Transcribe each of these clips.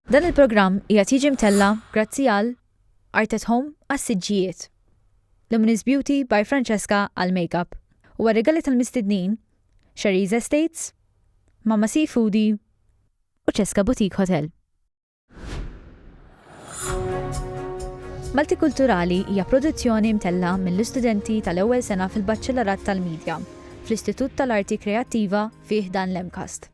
Dan il-programm qiegħed jiġi mtella' grazzi għal Art at Home għas-siġġijiet, Luminous Beauty by Francesca għall-makeup u għar-rigali tal-mistednin, Sherry's Estates, Mama Sea Foodie u Cesca Boutique Hotel. Maltikulturali hija produzzjoni mtella' mill-istudenti tal-ewwel sena fil-Baċċellarat tal-Media fl-Istitut tal-Arti Kreattiva fi ħdan l-MCAST.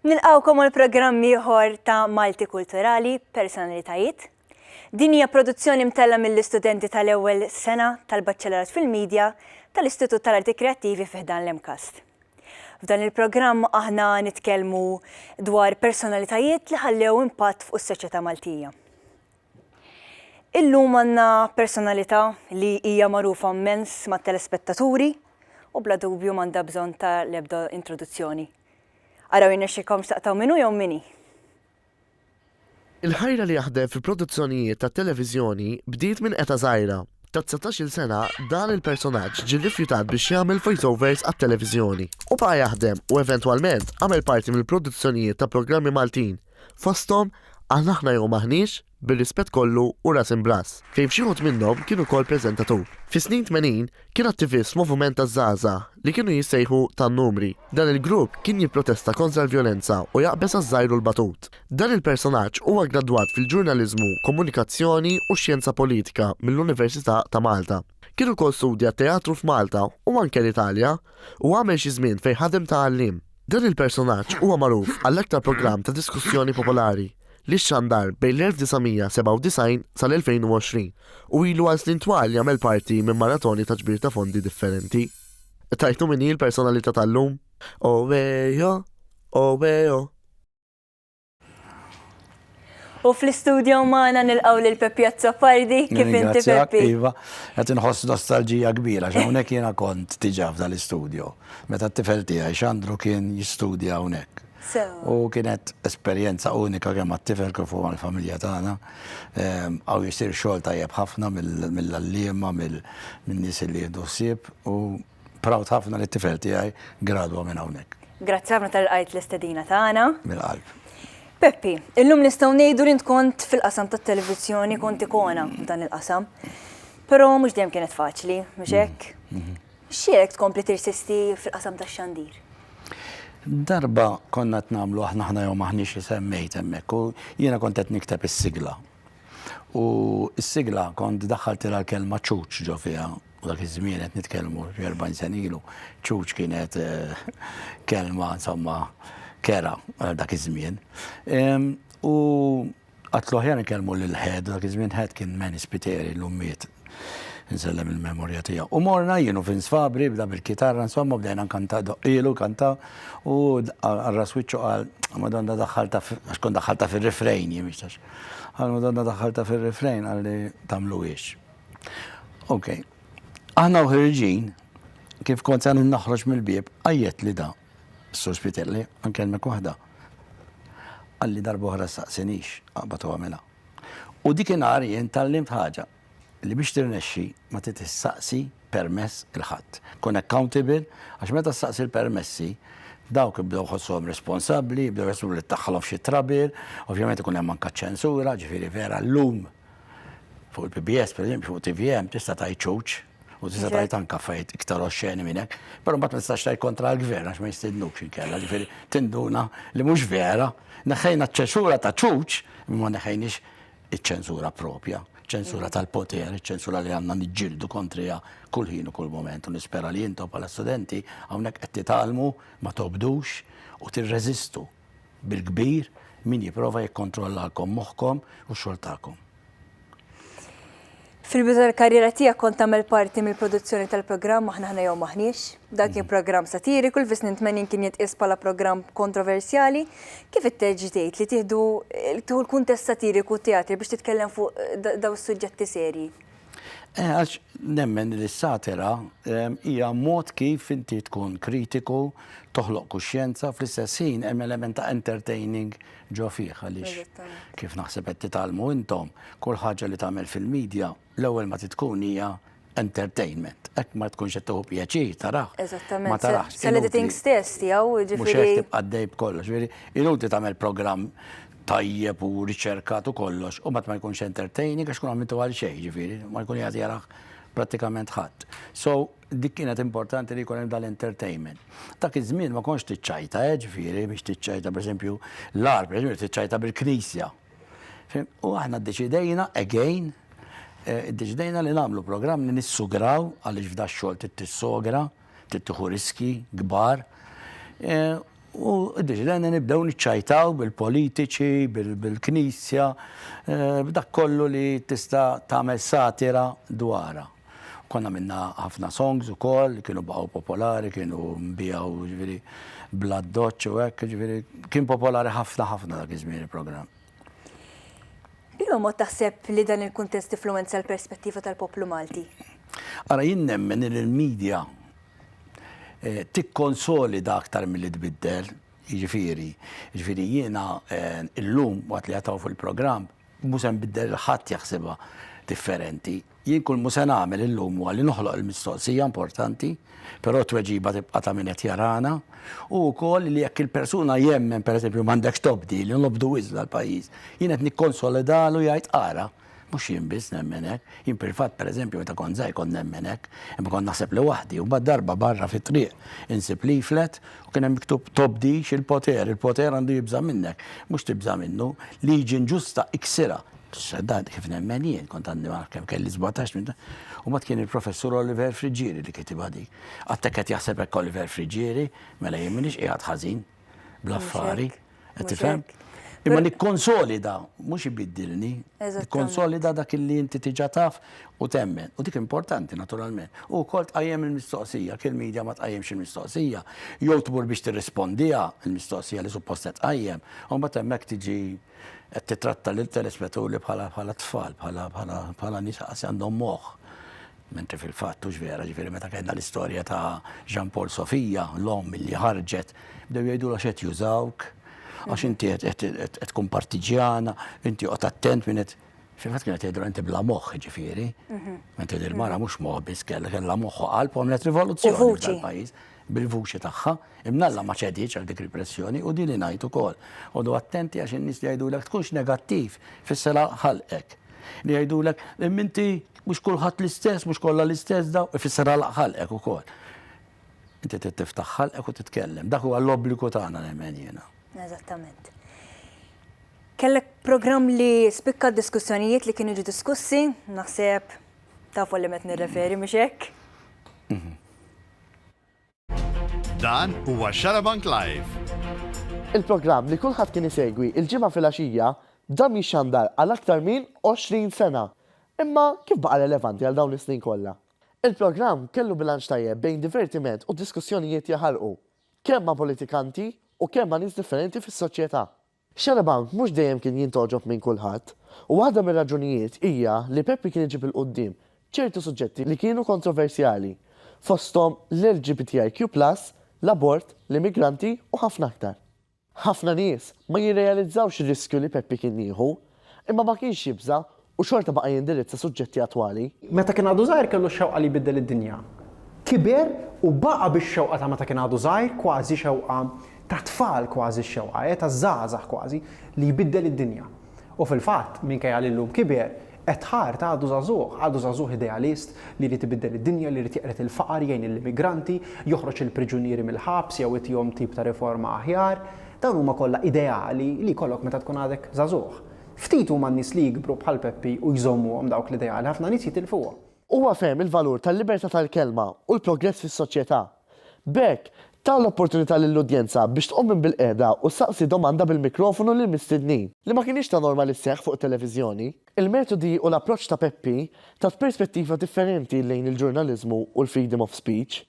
Nilqawkom għal programm ieħor ta' Malti Kulturali, Personalitajiet. Din hija produzzjoni mtella mill-istudenti tal-ewwel sena tal-Baċċellerat fil-Media tal-Istitut tal-Arti Kreattivi fi ħdan l-MCAST. F'dan il-programm aħna nitkellmu dwar personalitajiet li ħallew impatt fuq is-soċjetà Maltija. Illum għandna personalità li hija magħrufa mmens mat-telespettaturi u bla dubju m'għandha bżonn ta' l-ebda introduzzjoni. Araw jirnexxilkomx taqtgħu min hu jew min hi? Il-ħajra li jaħdem fi produzzjonijiet tat-televiżjoni bdiet minn eta' żgħira. Ta' dsatax-il sena dan il-personaġġ ġie rrifjutat biex jagħmel voiceovers għat-televiżjoni u baqa' jaħdem u eventwalment għamel parti mill-produzzjonijiet ta' programmi Maltin. Fosthom, Għal aħna jew m'aħniex, bir-rispett kollu u ras imbrass. Fejn f'xi wħud minnhom kien ukoll preżentatur. Fis-snin tmenin, kien attivist f'moviment taż-żgħażagħ li kienu jissejħu tan-numri. Dan il-grupp kien jipprotesta kontra l-vjolenza u jaqbeż għaż-żgħir u l-batut. Dan il-personaġġ huwa ggradwat fil-Ġurnaliżmu, Komunikazzjoni u Xjenza Politika mill-Università ta' Malta. Kien ukoll studja t-teatru f'Malta u anke l-Italja u għamel xi żmien fejn ħadem ta' għalliem. Dan il-personaġġ huwa magħruf għall-aktar programm ta' diskussjoni popolari li xxandar bejn l-1997 sal-2020 u ilu għal snin twal jagħmel parti minn maratoni ta' ġbir ta' fondi differenti. Tgħidu min hi l-personalità tal-lum? Owejo! Owejo! U fl-istudio maħna nilqaw lil Peppi Azzopardi, kif inti Peppi? Iva, għet nħoss nostalġija kbira, xawnek jena kont tiġaf dal-istudio. Meta t-tifel tijaj, xandru kien jistudia għonek. U kienet esperienza unika kemm għat-tifel kif huwa l-familja tagħna. Ehm, għaw jisir xogħol tajjeb ħafna mill-allima, mill-nies li jieħdu ħsieb u proud ħafna li t-tifel tiegħi gradwa minn hawnhekk. Grazzi ħafna tal-qajt l-istedina tagħna. Mill-qalb. Peppi, illum nistgħu ngħidu li kont fil-qasam tat-televiżjoni kont ikona f'dan il-qasam. Però mhux dejjem kienet faċli, mhux mm-hmm. hekk? Mm-hmm. Xiek tkompli tirsisti fil-qasam tax-xandir? Darba konna t-namlu aħna ħna jew maħniex semmejt hemmhekk u jiena kont qed nikteb is-sigla. U s-sigla kont daħħaltilha l-kelma ċuċ ġo fiha U dak iż-żmien qed nitkellmu xi 40 sena ilu, ċuċ kienet eh, kelma insomma kera għal dak iż-żmien. U għatlu ħjar nkellmu lil ħed, dak iż-żmien ħed kien meni spiteri l-ummiet nsellem il-memorja tiegħu. U morna jienu fin sfabri bda bil-kitarra insomma bdejna nkanta doqilu kanta u għarra switchu għal madonna daħħalta għax kun daħħalta fir-refrejn jimixtax. Għal madonna daħħalta fir-refrejn għalli tamlu ix. Ok. Aħna uħirġin, kif kont għan naħroġ mill-bib, għajet li da, s-sur spitelli, għankelmek wahda. Għalli darba uħra saqsinix, għabatu għamela. U dik inhar jien tal-limt ħaġa li biex tirnexxi ma titissaqsi permess il-ħadd. Kun accountable, għax meta saqsi l-permessi, dawk bdew ħossom responsabbli, bdew jasbu li taħħalhom xi trabir, ovvjament ikun hemm anka ċensura, ġifieri vera l-lum Fuq il-PBS, per eżempju, fuq TVM, tista' tajt ċuċ, u tista' tajt anka fajt iktar oxxeni minnek, pero mbagħad ma tistax tajt kontra l-gvern għax ma jistidnux inkella, ġifieri tinduna li mhux vera, neħħejna ċ-ċensura ta' ċuċ, imma neħħejniex iċ-ċensura propja, ċensura tal-poter, ċensura li għandna niġġieldu kontrija kull ħin u kull moment u nispera li intom bħala studenti hawnhekk qed titgħallmu ma tobdux u tirreżistu. bil-kbir min jipprova jikkontrollalkom moħħkom u x-xogħol tagħkom. Fil-bidu tal-karriera tiegħek kont tagħmel parti mill-produzzjoni tal-programm Aħna Aħna Jew M'Aħniex. Dan kien programm satiriku li fis-snin 80 kien jitqies bħala programm kontroversjali. Kif itteġġi tgħid li tieħdu tieħu l-kuntest satiriku teatri biex titkellem fuq daw is-suġġetti serji? Eh, għax nemmen li s-satira ehm, hija mod kif inti tkun kritiku, toħloq kuxjenza, fl-istess ħin hemm element ta' entertaining ġo fih għaliex kif naħseb qed titgħallmu intom, kull ħaġa li tagħmel fil-medja l-ewwel ma titkun hija entertainment. Ek ma tkunx qed tuħu pjaċir taraħ. Eżattament. Ma taraħx. L-editing stess tiegħu ġifieri. Mhux qed tibqa' dejb kollox. Ġifieri inutli tagħmel programm tajjeb u riċerkat u kollox, u mbagħad ma jkunx entertaining għax tkun għamiltu għal xejn, ġifieri, ma jkun jagħti jaraħ prattikament ħadd. So, dik kienet importanti li jkun hemm dal-entertainment. Dak iż-żmien ma konx tiċċajta, eh, ġifieri, biex tiċċajta, pereżempju, l-ar, pereżempju, tiċċajta bil-knisja. U aħna ddeċidejna, again, eh, ddeċidejna li nagħmlu programm li nissugraw għaliex f'da xogħol tittissogra, tittiħu riski, kbar. Eh, U deċidejna nibdew niċċajtaw bil-politiċi, bil-Knisja, b'dak kollu li tista' tagħmel satira dwarha. Konna minna ħafna songs ukoll li kienu baqgħu popolari, kienu nbiegħu ġifieri bla doċċ u hekk, ġifieri kien popolari ħafna ħafna dak iż-żmien il-programm. B'liema mod taħseb li dan il-kuntest influwenza l-perspettiva tal-poplu Malti? Ara jien nemmen li l-media tikkonsolida aktar milli tbiddel, jiġifieri, jiġifieri jiena illum waqt li qed hawn fuq il-programm mhu se nbiddel lil ħadd jaħsibha differenti. Jien kull mhu se nagħmel illum huwa li noħloq il-mistoqsija importanti, però t-tweġiba tibqa' ta' min qed jarana, u wkoll li jekk il-persuna jemmen pereżempju m'għandekx tobdi, li nobdu wisq dal-pajjiż, jien qed nikkonsolidahlu jgħid ara, Mhux jien biss nemmen hekk. Jien fil-fatt, pereżempju, meta kont żgħir kont nemmen hekk, imma kont naħseb li waħdi. U mbagħad darba barra fit-triq insib leaflet u kien hemm miktub tobdix il-poter, il-poter għandu jibża' minnek. Mhux tibża' minnu, liġi inġusta iksirha. Dan kif nemmen jien, kont għandi ma naf kemm kelli sbatax. U mbagħad kien il-Professur Oliver Friggieri li kitibha dik. Għad hekk qed jaħseb hekk Oliver Friggieri, mela jien m'iniex qiegħed ħażin. bl-affari, qed tifhem? Imma nikkonsolida, mhux ibiddilni, nikkonsolida dak li inti tiġa taf u temmen. U dik importanti naturalment. U wkoll tqajjem il-mistoqsija, kien media ma tqajjemx il-mistoqsija, jew tmur biex tirrispondiha il-mistoqsija li suppost qed tqajjem, u mbagħad hemmhekk tiġi qed titratta lil telespettaturi bħala tfal, bħala nies għandhom moħħ. Mentri fil-fatt hux vera, ġifieri meta kellna l-istorja ta' Jean Paul Sofia, l-omm li ħarġet, bdew jgħidulha x'qed jużawk, għax inti qed tkun partiġġjana, inti oqgħod attent min qed. Fil-fatt kienet tgħidilha inti bla moħħ, ġifieri. Mhm. Mentri din il-mara mhux moħħ biss kellha kellha moħħ u qalb għamlet rivoluzzjoni fil-pajjiż bil-vuċi tagħha, imnalla ma ċediċ għal dik il-pressjoni u din li ngħid ukoll. Għodu attenti għax in-nies li jgħidulek tkunx negattiv fis-sela ħalqek. Li jgħidulek imminti Mhux kulħadd l-istess, mhux kollha l-istess daw, ifisser għalaq ħalqek ukoll. Inti trid tiftaħ ħalqek u titkellem. Dak huwa l-obbligu tagħna nemmen jiena. Eżattament. Kellek programm li spikka diskussjonijiet li kienu ġi diskussi, naħseb tafu li met nirreferi mhux hekk? Mhm. Dan huwa Xarabank Live! Il-programm li kulħadd kien isegwi il-Ġimgħa filgħaxija dam jixxandar għal aktar min 20 sena. Imma kif baqa' relevanti għal dawn is-snin kollha? Il-programm kellu bilanċ tajjeb bejn divertiment u diskussjonijiet jaħarqu, kemm ma' politikanti u kemm ma' nies differenti fis-soċjetà. Xarabank mhux dejjem kien jintgħoġob minn kulħadd, u waħda mir-raġunijiet hija li Peppi kien iġib 'il quddiem ċertu suġġetti li kienu kontroversjali, fosthom l-LGBTIQ plus, l-abort, l-immigranti u ħafna aktar. Ħafna nies ma jirrealizzawx ir-riskju li Peppi kien jieħu, Imma ma kienx jibża' u xorta baqa' jindirizza suġġetti attwali. Meta kien għadu żgħir kellu x-xewqa li jbiddel id-dinja. Kiber u baqa' bix-xewqa ta' meta kien għadu żgħir, kważi xewqa ta' tfal kważi x-xewqa, eh, ta' żgħażagħ kważi, li jbiddel id-dinja. U fil-fatt, minkejja li llum kiber, at heart għadu żagħżugħ, għadu żagħżugħ idealist li jrid ibiddel id-dinja, li jrid jeqred il-faqar, jgħin lill-immigranti, joħroġ il-priġunieri mill-ħabs jew itihom tip ta' riforma aħjar. Dawn huma kollha ideali li jkollok meta tkun għadek żagħżugħ. Ftit huma n-nies li jikbru bħal Peppi u jżommuhom dawk l-ideali, ħafna nies jitilfuhom. Huwa fehem il-valur tal-libertà tal-kelma u l-progress fis-soċjetà. B'hekk, ta l-opportunità lill-udjenza biex tqum minn bilqiegħda u ssaqsi domanda bil-mikrofonu lill-mistednin. Li ma kinitx ta' norma li sseħħ fuq it-televiżjoni. Il-metodi u l-approċċ ta' Peppi tat perspettiva differenti lejn il-ġurnaliżmu u l-freedom of speech.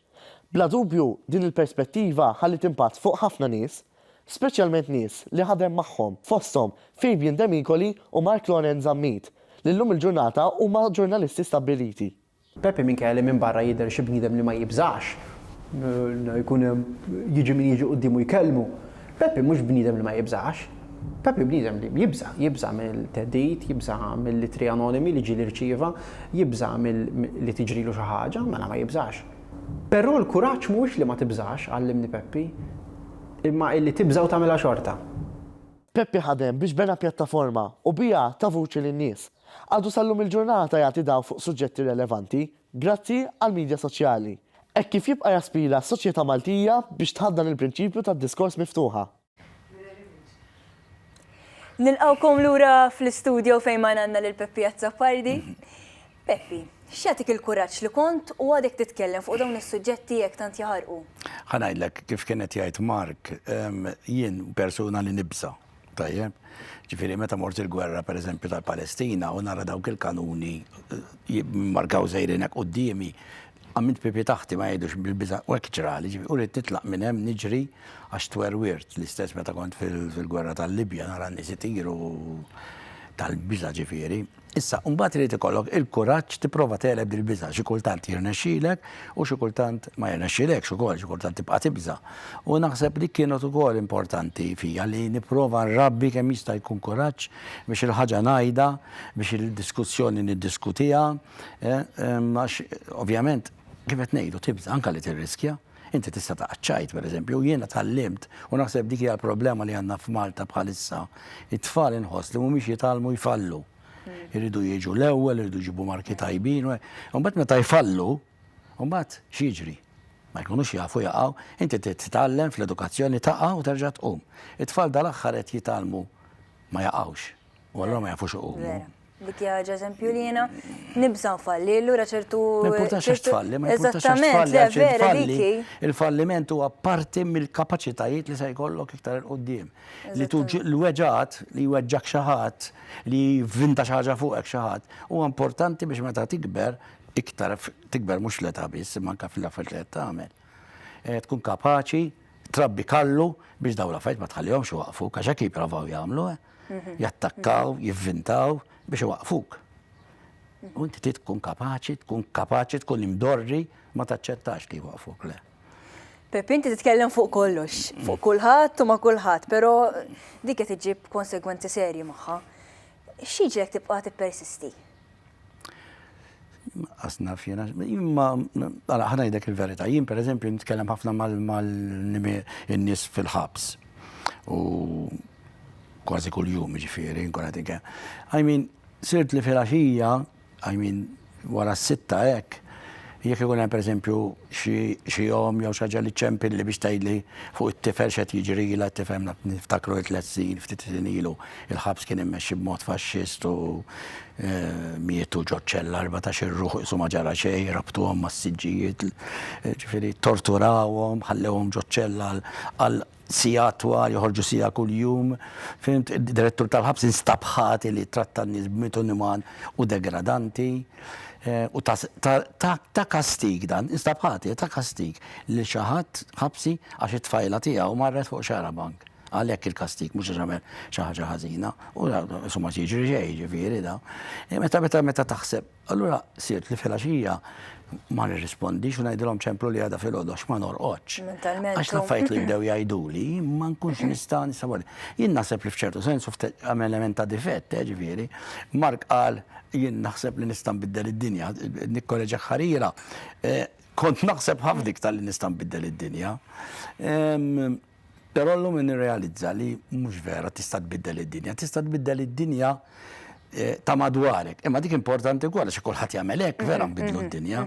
Bla dubju, din il-perspettiva ħalliet impatt fuq ħafna nies, speċjalment nies li ħadem magħhom, fosthom Fabian Demicoli u Mark Loren Zammit, li llum il-ġurnata huma ġurnalisti stabbiliti. Pepe minkejja li minn barra jidher xi bniedem li ma jibżax jkun hemm jiġi min jiġi quddiemu jkellmu, Peppi mhux bniedem li ma jibżax. Peppi bniedem li jibża', jibża' mill-theddid, jibża' mill-ittri anonimi li ġieli rċieva, jibża' mill li tiġrilu xi ħaġa, mela ma jibżax. Però l-kuraġġ mhuwiex li ma tibżax, għallimni Peppi, imma illi tibża' u tagħmilha xorta. Peppi ħadem biex bena pjattaforma u biha ta vuċi lin-nies. Għadu sal-lum il-ġurnata jagħti dawl fuq suġġetti relevanti, Grazzi għall-midja soċjali. Hekk kif jibqa' jaspira s-soċjetà Maltija biex tħaddan il-prinċipju tad-diskors miftuħa. Nilqgħukom lura fl-istudjo fejn magħna għandna lil Peppi Azzopardi. Peppi, x'jagħtik il-kuraġġ li kont u għadek titkellem fuq dawn is-suġġetti hekk tant jaħarqu? Ħa ngħidlek, kif kien qed jgħid Mark, jien persuna li nibża'. Tajjeb, ġifiri meta mort il-gwerra per eżempju tal-Palestina u nara dawk il-kanuni markaw zejrinek u d-dimi, għamilt pipi taħti ma jgħidux bil-biza u ekċrali, ġifiri u rrit titlaq minn hemm niġri għax twerwirt l-istess meta kont fil-gwerra tal-Libja nara n-nisi tiru tal-biza ġifiri. Issa, imbagħad irid ikollok il-kuraġġ tipprova tegħleb dil-biża'. Xi kultant jirnexxilek u xi kultant ma jirnexxilekx ukoll, xi kultant tibqa' tibża'. U naħseb dik kienet ukoll importanti fija li nipprova nrabbi kemm jista' jkun kuraġġ biex il-ħaġa ngħidha, biex il-diskussjoni niddiskutiha, għax ovvjament kif qed ngħidu tibża' anke li tirriskja. Inti tista' taqgħad tgħid, pereżempju, jiena tgħallimt, u naħseb dik hija l-problema li għandna f'Malta bħalissa, it-tfal inħoss li mhumiex jitgħallmu jfallu. Iridu jiġu l-ewwel, iridu jġibu marki tajbin, u mbagħad meta jfallu, u mbagħad x'jiġri? Ma jkunux jafu jaqgħu, inti titgħallem fl-edukazzjoni taqa' u terġa' tqum. It-tfal dal-aħħar qed jitgħallmu ma jaqgħux. U allura ma jafux iqumu. Dik hija ħaġa eżempju li jiena nibża' nfalli, allura ċertu. Ma importax għax tfalli, ma importax għax tfalli, għax tfalli. Il-falliment huwa parti mill-kapaċitajiet li se jkollok iktar il qudiem Li tuġi l-weġat, li jweġġak xi ħadd, li vinta xi ħaġa fuqek xi ħadd, huwa importanti biex meta tikber iktar tikber mhux l-età biss, imma anke fil-affarijiet li qed tagħmel. Eh, tkun kapaċi trabbi kallu biex dawn l-affarijiet ma tħallihomx waqfu, għax hekk jipprovaw jagħmlu. Eh. jattakkaw, jivvintaw biex iwaqqfuk. U inti trid tkun kapaċi, tkun kapaċi, tkun imdorri ma taċċettax li jwaqqfuk, le. Pepi, inti titkellem fuq kollox, fuq kulħadd u ma' kulħadd, però dik qed iġib konsegwenzi serji magħha. X'jiġrek tibqa' tippersisti? Asna fjena, imma għala ħanajdek il-verita, jien per eżempju nitkellem ħafna mal-nies fil-ħabs. U kważi kull jum ġifiri, nkun għadik. I mean, sirt li fil-axija, I mean, wara s-sitta ek, Jekk ikun hemm pereżempju xi xi omm jew xi ħaġa li ċċempilli biex tgħidli fuq it-tifel x'qed jiġrilha, tifhem naf niftakru it-tliet snin ftit snin ilu il-ħabs kien immexxi b'mod faxxist u mietu ġo ċella erbatax-il ruħ qisu ma ġara xejn, rabtuhom mas-siġġijiet, ġifieri torturawhom, ħallewhom ġo ċella għal Siegħat twal, joħorġu siegħa kuljum. Fhimt? Id-direttur tal-ħabs instab ħati li ttratta n-nies b'mod uniman u degradanti. U ta, ta, ta, ta kastig dan, instab ħati ta' kastig li xi ħadd ħabsi għax it-tfajla tiegħu marret fuq xara bank. Għalhekk il-kastig mhux għax għamel xi ħaġa ħażina. U insomma jiġri xejn, ġifieri da. Meta meta meta taħseb Allura sirt li filgħaxija ma nirrispondix u ngħidilhom ċemplu li għadha filgħodu għax ma norqodx. Għax l-affarijiet li bdew jgħiduli ma nkunx nista' nisawwar. Jien naħseb li f'ċertu sens għam element ta' difett, eh, ġifieri. Mark qal jien naħseb li nista' nbiddel id-dinja, nikkoreġa ħarira. Eh, kont naħseb ħafna iktar li nista' nbiddel id-dinja. Ehm, Però llum nirrealizza li mhux vera tista' tbiddel id-dinja. Tista' tbiddel id-dinja ta' madwarek. Imma dik importanti wkoll għax kulħadd jagħmel hekk, vera nbiddlu d-dinja.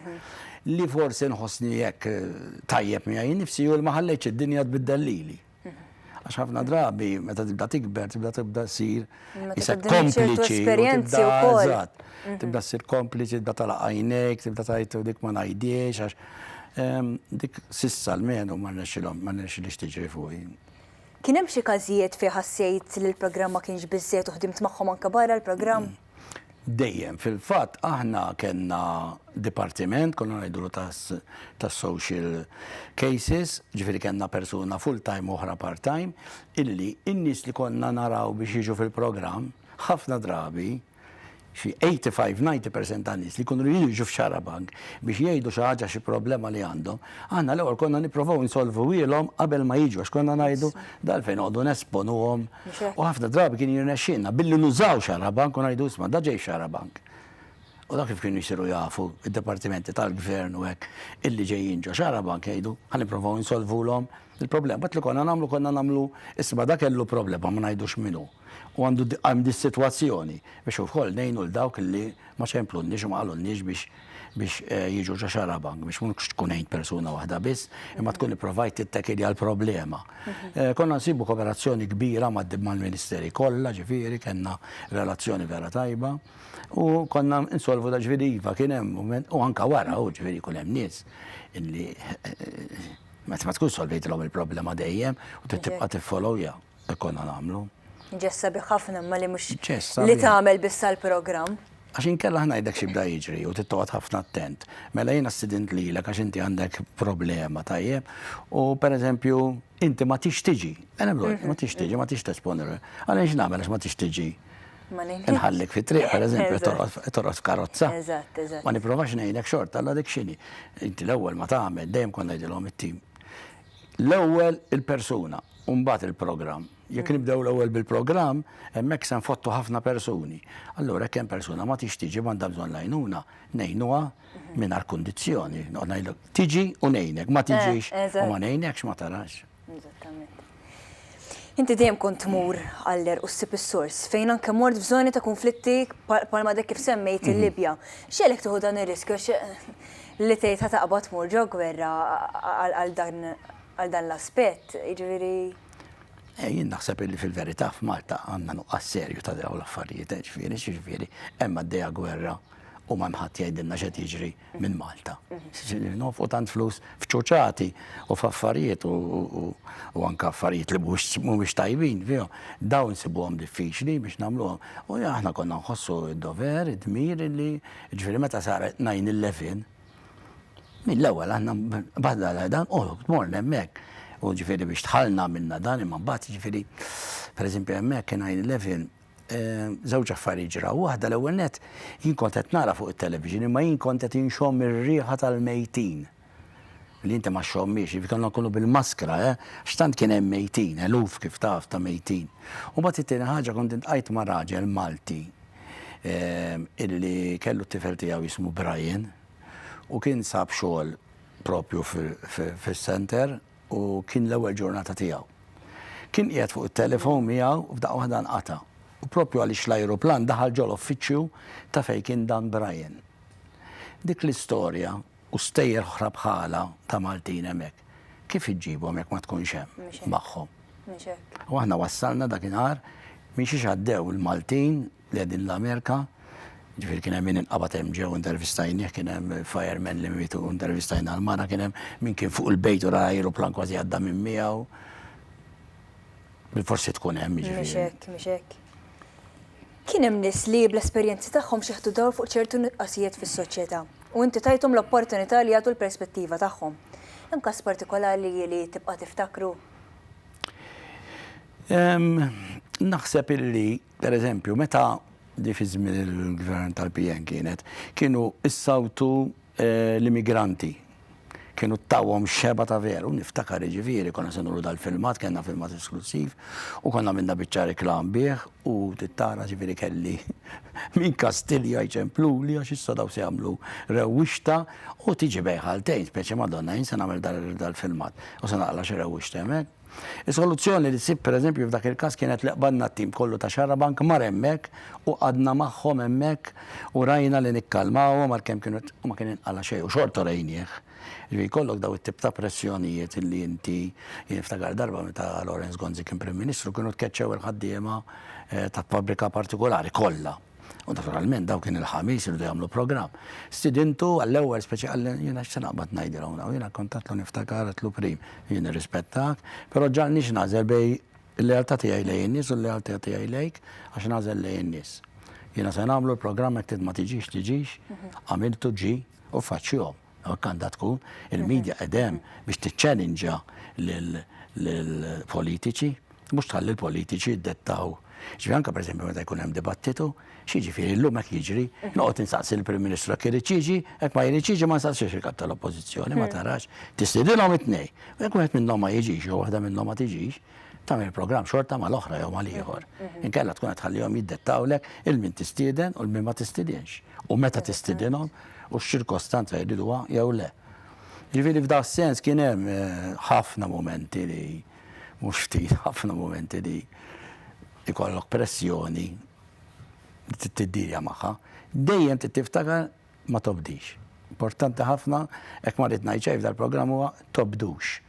Li forsi nħossni hekk tajjeb miegħi nnifsi hu li ma ħallejtx id-dinja tbiddel lili. Għax ħafna drabi meta tibda tikber, tibda tibda ssir Isek kompliċi. Esperjenzi u kol. Mhm. Tibda s-sir kompliċi, tibda tala għajnek, tibda tajtu dik ma najdiex, għax ehm, dik sissa l-menu ma nexilom, ma nexil ixtiġri fuqi. Kien hemm xi każijiet fi ħassejt li l-programm ma kienx biżżejjed u ħdimt magħhom anke barra l-programm? Mm. Dejjem. Fil-fatt aħna kellna dipartiment, konna ngħidulu tas-social cases, ġifieri kellna persuna full-time u oħra part-time, illi n-nies li konna naraw biex jiġu fil-programm, ħafna drabi, xi 85, 90% tan-nies li jkunu jridu jiġu f'Xarabank biex jgħidu xi ħaġa, xi problema li għandhom, Aħna l-ewwel konna nipprovaw insolvuhielhom qabel ma jiġu għax konna ngħidu dalfejn noqogħdu nesponuhom. U ħafna drabi kien jirnexxielna billi nużaw xarabank u ngħidu isma' da ġej xarabank. U dak kif kienu jsiru jafu id-dipartimenti tal-gvern u hekk illi ġejjin ġo xarabank jgħidu ħa nipprovaw insolvulhom il-problema. Bat li konna nagħmlu konna nagħmlu isma' da kellu problema ma ngħidux min hu. u għandu għal dis-sitwazzjoni biex ukoll ngħinu lil dawk li ma ċemplunniex u ma qalulniex biex biex eh, jiġu ġo xarabank biex mhux tkun għajn persuna waħda biss, imma tkun ipprovajt tittekili għal problema. Mhm. Eh, konna nsibu kooperazzjoni kbira mal-Ministeri kollha, ġifieri kellna relazzjoni vera tajba u konna insolvu da ġifieri iva kien hemm u anka wara u ġifieri kun hemm nies illi eh, meta ma tkun solvejtilhom il-problema dejjem u tibqa' tiffolowja. Se konna nagħmlu. Ġest sabiħ ħafna imma li mhux li tagħmel biss għall-programm. Għax inkella ħnajdek xi bda jiġri u tittoqgħod ħafna attent. Mela jiena ssidint lilek għax inti għandek problema tajjeb u pereżempju inti ma tix tiġi. Għalem lol, ma tix tiġi, ma tix tesponi. Għalem x'nagħmel għax ma tix tiġi. Nħallik fit triq pereżempju torqod f'karozza. Eżatt, eżatt. Ma nipprovax ngħidlek xorta għal dik xini. Inti l-ewwel ma tagħmel dejjem konna ngħidilhom it-tim. L-ewwel il-persuna u mbagħad il-programm. Jekk nibdew l-ewwel bil-programm, hemmhekk se nfottu ħafna persuni. Allura jekk hemm persuna ma tix tiġi m'għandha bżonn l-għajnuna, ngħinuha mingħajr kundizzjoni. Noqgħod ngħidlek tiġi u ngħinek, ma tiġix u ma ngħinekx ma tarax. Eżattament. Inti dejjem kont tmur għall-għerq u ssib is-sors, fejn anke mort f'żoni ta' kunflitti bħalma dak kif semmejt il-Libja. X'għelek tieħu dan ir-riskju għax li tgħid ħa taqbad tmur ġo gwerra għal dan għal dan l-aspett, jiġifieri. Eh, jien naħseb li fil-verità f'Malta għandna nuqqas serju ta' dawn l-affarijiet, eh, ġifieri, ġifieri, hemm għaddejja gwerra u ma mħadd jgħidilna x'qed jiġri. minn Malta. Ġifieri nonfqu tant flus f'ċuċati u f'affarijiet u anke affarijiet li mhumiex tajbin fihom. Dawn nsibuhom diffiċli biex nagħmluhom. U aħna konna nħossu d-dover, id-dmir li ġifieri meta sar 9/11 mill-ewwel aħna badla dan u tmorna hemmhekk. U ġifieri biex dħalna għamilna dan imma mbagħad ġifieri pereżempju hemmhekk kien 9/11 żewġ affarijiet ġraw. Waħda l-ewwel nett, jien kont qed nara fuq it-television imma jien kont qed inxomm ir-riħa tal-mejtin. Li inti ma xxommhiex, jiġifieri kellna nkunu bil-maskra, eh, għax tant kien hemm mejtin, eluf kif taf ta' mejtin. U mbagħad it-tieni ħaġa kont iltqajt ma' raġel Malti illi kellu t-tifel tiegħu jismu Brian u kien sab xogħol proprju fis-center. u kien l-ewwel ġurnata tiegħu. Kien qiegħed fuq it-telefon miegħu f'daqqa waħda nqata' u proprju għaliex l-ajruplan daħal ġol-uffiċċju ta' fejn kien Dan Brian. Dik l-istorja u stejjer oħra bħalha ta' Maltin hemmhekk, kif iġġibhom jekk ma tkunx hemm magħhom? U aħna wassalna dakinhar minn xiex għaddew il-Maltin Qegħdin l-Amerika, ġifieri kien hemm min inqabad hemm ġew intervistajnih, kien hemm firemen li mietu intervistajna l-mara, kien hemm min kien fuq il-bejt u ra ajruplan kważi għadda minn miegħu. Bil-forsi tkun hemm Mhux ġifieri. hekk, mhux hekk. Kien hemm nies li bl-esperjenzi tagħhom xeħtu dawl fuq ċertu nuqqasijiet fis-soċjetà u inti tajthom l-opportunità li jagħtu l-perspettiva tagħhom. Hemm każ partikolari li tibqa' tiftakru? Naħseb illi Per eżempju, meta di fi żmien il-gvern tal-PN kienet, kienu issawtu eh, l-immigranti. Kienu ttawhom xeba ta' veru, niftakar iġifieri, konna se nuru dal-filmat, kellna filmat esklusiv, u konna minna biċċa reklam bih, u tittara ġifieri kelli minn Kastilja jċempluli għax issa daw se jagħmlu rewwixta u tiġi bejħaltejn, speċi Madonna, jien se nagħmel dal-filmat u se naqla xi rewwixta hemmhekk. Is-soluzzjoni li sibt pereżempju f'dak il-każ kienet li qbadna t-tim kollu ta' Xarabank mar hemmhekk u qgħadna magħhom hemmhekk u rajna li nikkalmawhom għalkemm kienu u ma kien inqala' xejn u xorta rejnieh. Jiġifieri jkollok daw it-tip ta' pressjonijiet li inti jien niftakar darba meta Lawrence Gonzi kien Prim Ministru kienu tkeċċew il-ħaddiema ta' fabbrika partikulari kollha. U naturalment daw kien il-ħamis irdu jagħmlu programm. Stidintu għall-ewwel speċi għal jiena x'se naqbad ngħidilhom daw. Jiena kontatlu niftakar għatlu prim jien irrispettak, però ġalniex nagħżel bej il-lealtà tiegħi lejn in-nies u l-lealtà tiegħi lejk għax nagħżel lejn in-nies. Jiena se nagħmlu l-programm hekk ma tiġix tiġix, għamiltu ġi u faċċihom. Hekk għandha tkun. Il-medja qed hemm biex tiċċellinġa lill-politiċi, mhux tħalli l-politiċi jiddettaw. Ġifieri anke pereżempju meta jkun hemm dibattitu, x'jiġifieri llum hekk jiġri, noqgħod insaqsi l-Prim Ministru jekk irid jiġi, jekk ma jridx jiġi ma nsaqsix il-Kap tal-Oppożizzjoni, ma tarax. Tistidinhom it-tnejn. Jekk wieħed minnhom ma jiġix jew waħda minnhom ma tiġix, tagħmel programm xorta mal-oħra jew mal-ieħor. Inkella tkun qed tħallihom jiddettawlek il-min tistieden u l-min ma tistidenx. U meta tistidinhom u x-ċirkostanza jriduha jew le. Ġifieri f'da sens kien hemm eh, ħafna momenti li mhux ftit ħafna momenti li ikollok pressjoni tiddirja magħha, dejjem tiftakar ma tobdix. Importanti ħafna, hekk ma rrid ngħid xejn f'dal-programm huwa tobdux.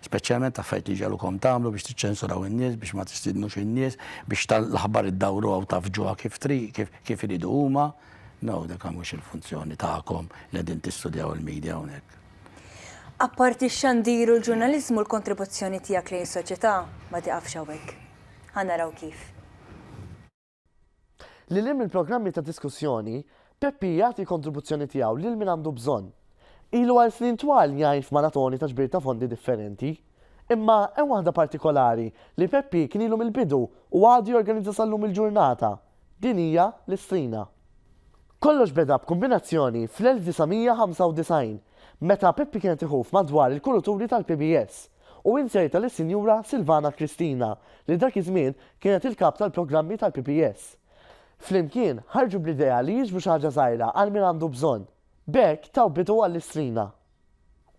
Speċjalment affarijiet li ġegħlukom tagħmlu biex tiċċensuraw in-nies, biex ma tistidnux in-nies, biex l-aħbar iddawruha u tgħaffġuha kif trid, kif, kif iridu huma. No, dik mhux il-funzjoni tagħkom li qegħdin tistudjaw il-media hawnhekk. Apparti x-xandir u l-ġurnaliżmu l-kontribuzzjoni tiegħek lejn is-soċjetà ma tieqafx hawnhekk. Ħa naraw kif. Lil hinn mill-programmi ta' diskussjoni, Peppi jagħti l-kontribuzzjoni tiegħu lil min għandu bżonn. Ilu għal snin twal jgħin f'maratoni ta' ġbir ta' fondi differenti. Imma hemm waħda partikolari li Peppi kien ilu mill-bidu u għadu jorganizza sal-lum il-ġurnata. Din hija l-Istrina. Kollox beda b'kumbinazzjoni fl-1995, meta Peppi kienet iħuf madwar il-kuruturi tal-PBS u inzerta lis-Sinjura Silvana Cristina, li dak iż-żmien kienet il-Kap tal-Programmi tal-PPS. Flimkien, ħarġu bl-idea li jiġbru xi ħaġa żgħira għal min għandu bżonn. B'hekk taw bidu għall-Istrina.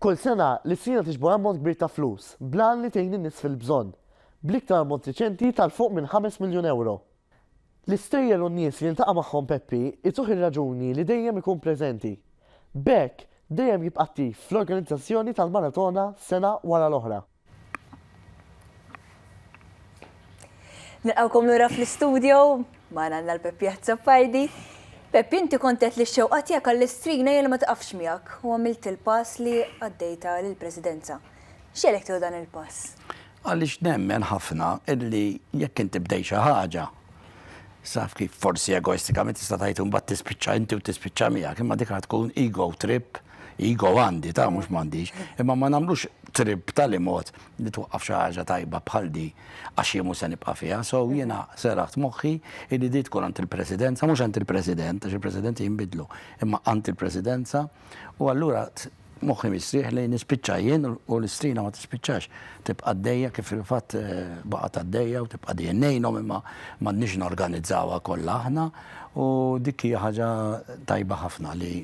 Kull sena, l-Istrina tiġbor ammont kbir ta' flus, bl-għan li tgħin in-nies fil-bżonn, bl-iktar ammont riċenti tal-fuq minn ħames miljun ewro. L-istejjer u n-nies li jiltaqa' magħhom Peppi jtuh ir-raġuni li dejjem ikun preżenti. B'hekk, dejjem jibqa' attiv fl-organizzazzjoni tal-maratona sena wara l-oħra. Nilqgħukom lura fl-istudjo, magħna għandna l Peppi Azzopardi. Peppi, inti kont għedt li x-xewqa tiegħek għall-Istrina hija li ma tiqafx miegħek u għamilt il-pass li għaddejtha lill-Presidenza. X'għelek tieħu dan il-pass? Għaliex nemmen ħafna illi jekk inti bdejt xi ħaġa, saf kif forsi egoistikament tista' tgħid imbagħad tispiċċa inti u tispiċċa miegħek, imma dik tkun ego trip, ego għandi ta' mhux m'għandix, imma ma nagħmlux trip tal imod li twaqqaf xi ħaġa tajba bħal di għax jien mhux se nibqa' fiha. So jiena seraħt moħħi li di tkun għand il-Presidenza, mhux għand il-President, għax il-Presidenti jinbidlu, imma għand il-Presidenza u allura moħħi mistrieħ li nispiċċa jien u l-istrina ma tispiċċax. Tibqa' għaddejja kif fil-fatt eh, baqgħet għaddejja u tibqa' dejjem ngħinhom imma m'għandniex norganizzawha kollha aħna u dik hija ħaġa tajba ħafna li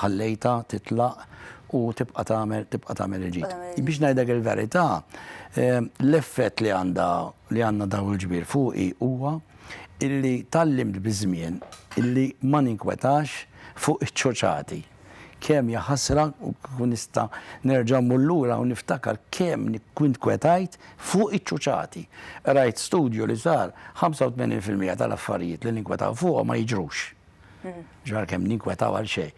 ħallejta titlaq u tibqa' tagħmel tibqa' tagħmel il-ġid. Biex ngħidlek il-verità, eh, l-effett li għandha li għandna daw il-ġbir fuqi huwa illi tallimt biż-żmien illi ma ninkwetax fuq iċ-ċoċati. Kemm hija ħasra u kieku nista' nerġa' mmur lura u niftakar kemm ninkwetajt fuq iċ-ċuċati. Qrajt studju li sar 85 fil-mija tal-affarijiet li ninkwetaw fuqhom ma jiġrux. Ġara kemm ninkwetaw għal xejn.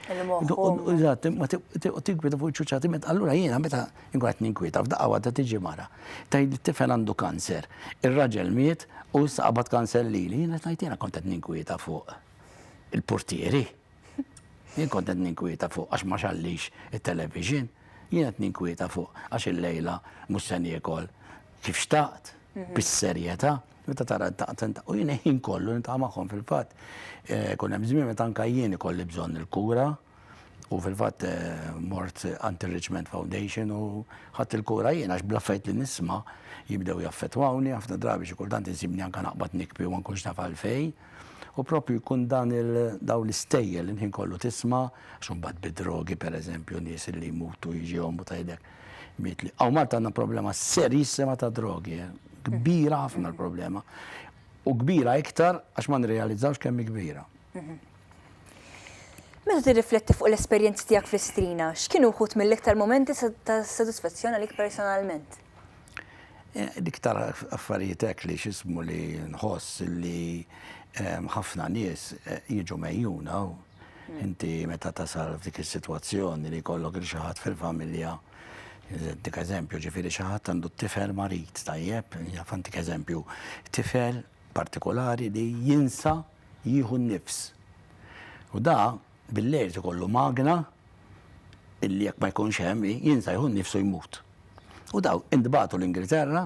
Eżatt, ma tinkweta fuq iċ-ċuċati meta allura jiena meta nkun qed ninkweta f'daqqa waħda tiġi mara. Tgħid li t-tifel għandu kanser. Ir-raġel miet u issa qabad kanser lili. Jiena tgħid jiena kont qed ninkweta fuq il-purtieri. Jien kont qed ninkwieta fuq għax ma xallix it-television, jien qed ninkwieta fuq għax il-lejla mhux se niekol kif xtaqt, bis-serjetà, meta tara daqten ta' u jien ħin kollu niltaqa' magħhom fil-fatt. Eh, kun hemm żmien meta anke jien ikolli bżonn il-kura u fil-fatt eh, mort għand Richmond Foundation u ħadd il-kura jien għax bla fejt li nisma' jibdew jaffetwawni ħafna drabi xi kultant insibni anke naqbad nikbi u ma nkunx naf għalfejn. U proprju jkun dan il dawn l-istejjel il-ħin kollu tisma' għax imbagħad bid-drogi pereżempju nies li jmutu jiġihom u tgħidlek miet li hawn Malta għandna problema serjissima ta' drogi, kbira ħafna l-problema. U kbira iktar għax ma nirrealizzawx kemm hi kbira. Meta tirrifletti fuq l-esperjenzi tiegħek fl-Istrina, x'kienu wħud mill-iktar mumenti ta' sodisfazzjon għalik personalment? Eh, dik tal affarijiet hekk li xismu li nħoss li ehm, ħafna nies eh, jiġu mejjuna u hmm. inti meta tasal f'dik is-sitwazzjoni li jkollok il xi ħadd fil-familja Dik eżempju ġifiri xaħat għandu t-tifel marit tajjeb, jafantik eżempju, tifel partikolari li jinsa jieħu n-nifs. U da Bil-lejl irid ikollu magna illi jekk ma jkunx hemm jinsa jieħu nnifsu jmut. U dawn intbagħtu l-Ingilterra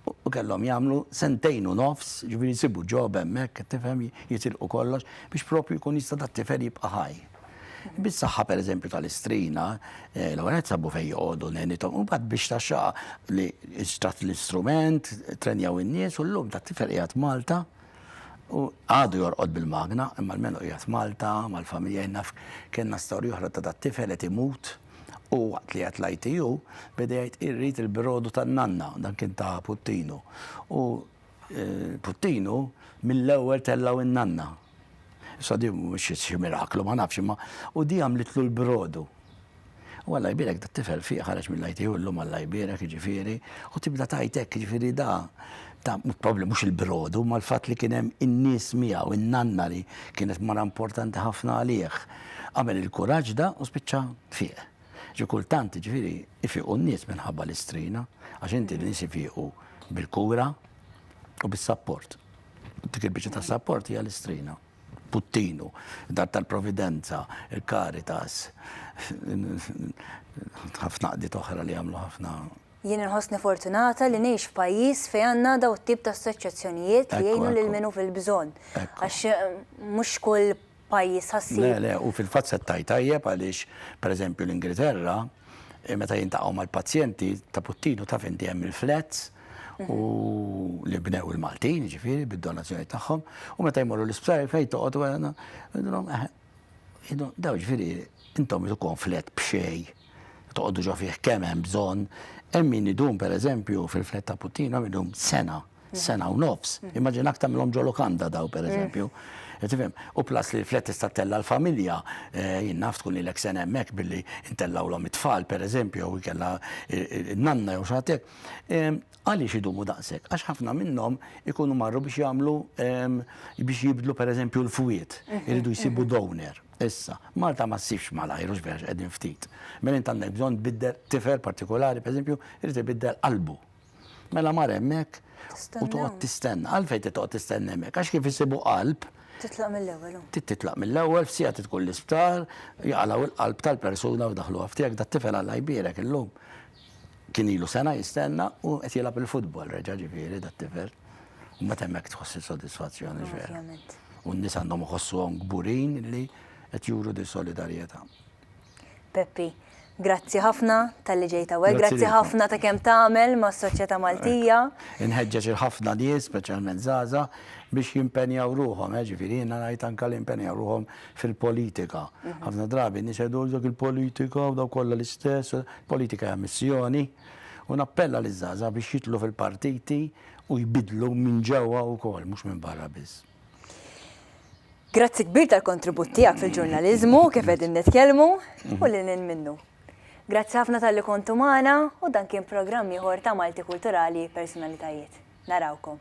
u kellhom jagħmlu sentejn u nofs, ġifieri jsibu ġob hemmhekk, qed tifhem, jitilqu kollox biex proprju jkun jista' dat-tifel jibqa' ħaj. Bis-saħħa pereżempju tal-istrina, eh, l-ewwel qed sabu fejn joqogħdu nenithom, u mbagħad biex taxxaqa li xtrat l-istrument, trenjaw in-nies u llum dat-tifel qiegħed Malta U għadu jorqod bil-magna, imma almenu qiegħed Malta, mal-familja jien naf kellna storja oħra ta' dat-tifel qed imut u waqt li qiegħed l-ITU beda jgħid irrid il-brodu tan-nanna, dan kien ta' Puttinu. U Puttinu mill-ewwel tellgħu n-nanna. Issa di mhux xi miraklu ma nafx imma u di għamlitlu l-brodu. U Alla jbierek da tifel fih ħareġ mill-ITU llum Alla jbierek jiġifieri u tibda tgħid hekk jiġifieri da ta' probabli mhux il-brodu ma l-fatt li kien hemm in-nies miegħu, in-nanna li kienet mara importanti ħafna għalih. Għamel il-kuraġġ da u spiċċa fieq. Ġi kultant jiġifieri ifiqu n-nies minħabba l-istrina għax inti n-nies ifiqu bil-kura u bis-sapport. Dik il-biċċa ta' sapport hija l-istrina. Puttinu, dar tal-Providenza, il-Caritas, ħafna qdiet oħra li jagħmlu ħafna Jien inħossni fortunata li ngħix f'pajjiż fejn għandna daw it-tip ta' assoċjazzjonijiet li jgħinu lil min hu fil-bżonn. Għax mhux kull pajjiż ħassib. Le, le, u fil-fatt se tgħid tajjeb għaliex, pereżempju, l-Ingilterra meta jiltaqgħu mal-pazjenti ta' Puttinu taf inti hemm il-flats u li bnew il-Maltin, ġifieri, bid-donazzjoni tagħhom, u meta jmorru l-isptar fejn toqgħod wara, daw ġifieri intom tkun flet b'xej, toqgħodu ġo fih kemm hemm bżonn, hemm min idum pereżempju fil-flet ta' Puttinu hemm idum sena. sena u nofs. Immaġina aktar minnhom ġo lokanda daw pereżempju. Qed tifhem? U plus li flet tista' tella' l-familja, eh, jien naf tkun lilek sena hemmhekk billi ntellgħulhom it-tfal pereżempju jew inkella n-nanna jew xi ħadd hekk. Ehm, għaliex idumu daqshekk? Għax ħafna minnhom ikunu marru biex jagħmlu ehm, biex jibdlu pereżempju l-fwiet, mhm, iridu jsibu mhm. donor. Issa, Malta ma ssibx malajr u xbex qegħdin ftit. Mela int għandek bżonn tbiddel tifer partikolari, pereżempju, irid ibiddel qalbu. Mela mar hemmhekk u toqgħod tistenna. Għalfejn trid toqgħod tistenna hemmhekk? Għax kif isibu qalb. Titlaq mill-ewwel. Titlaq mill-ewwel, f'siegħa tkun l-isptar, jaqalgħu l-qalb tal-persuna u daħluha f'tiegħek da tifel Alla jbierek illum. Kien ilu sena jistenna u qed jilgħab il-futbol reġa' ġifieri da tifel. U meta hemmhekk tħoss is-sodisfazzjoni ġvera. U n-nies għandhom iħossuhom kburin li qed juru di solidarjetà. Peppi, grazzi ħafna talli ġejt hawnhekk, grazzi ħafna ta' kemm tagħmel mas-soċjetà Maltija. Inħeġġeġ lil ħafna nies, speċjalment żgħażagħ, biex jimpenjaw ruħhom, jiġifieri jiena ngħid anke li jimpenjaw ruħhom fil-politika. Ħafna drabi n-nies jgħidu dak il-politika u dawk kollha l-istess, politika hija missjoni u nappella liż-żgħażagħ biex jidħlu fil-partiti u jbiddlu minn ġewwa wkoll, mhux minn barra biss. Grazzi kbir tal-kontribut tiegħek fil-ġurnaliżmu kif qegħdin nitkellmu u lil hinn minnu. Grazzi ħafna tal-li kontu magħna u dan kien programm ieħor ta' Malti Kulturali Personalitajiet. Narawkom.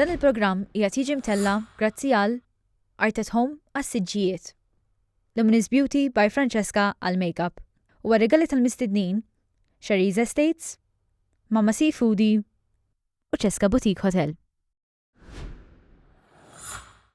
Dan il-programm qiegħed jiġi mtella' grazzi għal Art at Home għas-siġġijiet, Luminous Beauty by Francesca għall-makeup u għar-rigali tal-mistednin, Sharie's Estates, Mama Sea Foodie u Cesca Boutique Hotel.